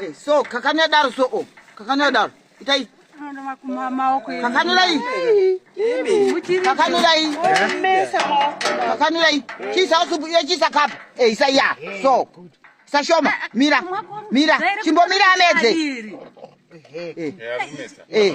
Eh, so kakanya daro so o oh, kakanya daro itai kakanirai kakanirai kakanirai chisa usupu iyo chisa kapa e eh, isa ya so sashoma mira mira chimbomira amedze e e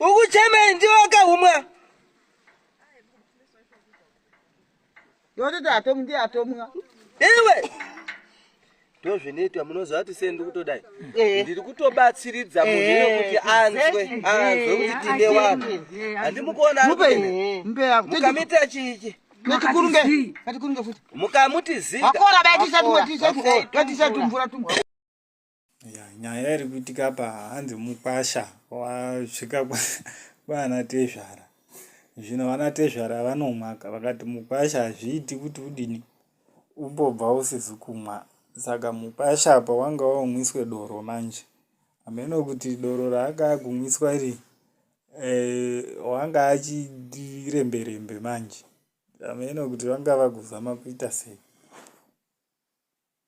ukuchemei ndiwo akahumwa yototi atomu ndiye atomwa iwe ndozvinoitwa munoziva kuti sei ndikutodai eh. ndiri kutobatsiridza munhu eh. kuti anzwe anzwe kuti eh. tine vanhu handimukuona mukamita chichi mukamuti zita Yeah, nyaya iri kuitika apa hanzi mukwasha wasvika kwaana tezvara zvino vana tezvara vanomaka vakati mukwasha hazviiti kuti udini umbobva usizi kumwa saka mukwasha apa wanga waumwiswe doro manje hameno kuti doro raanga akumwiswa iri eh, wanga achiremberembe manje hameno kuti vanga vakuzama kuita sei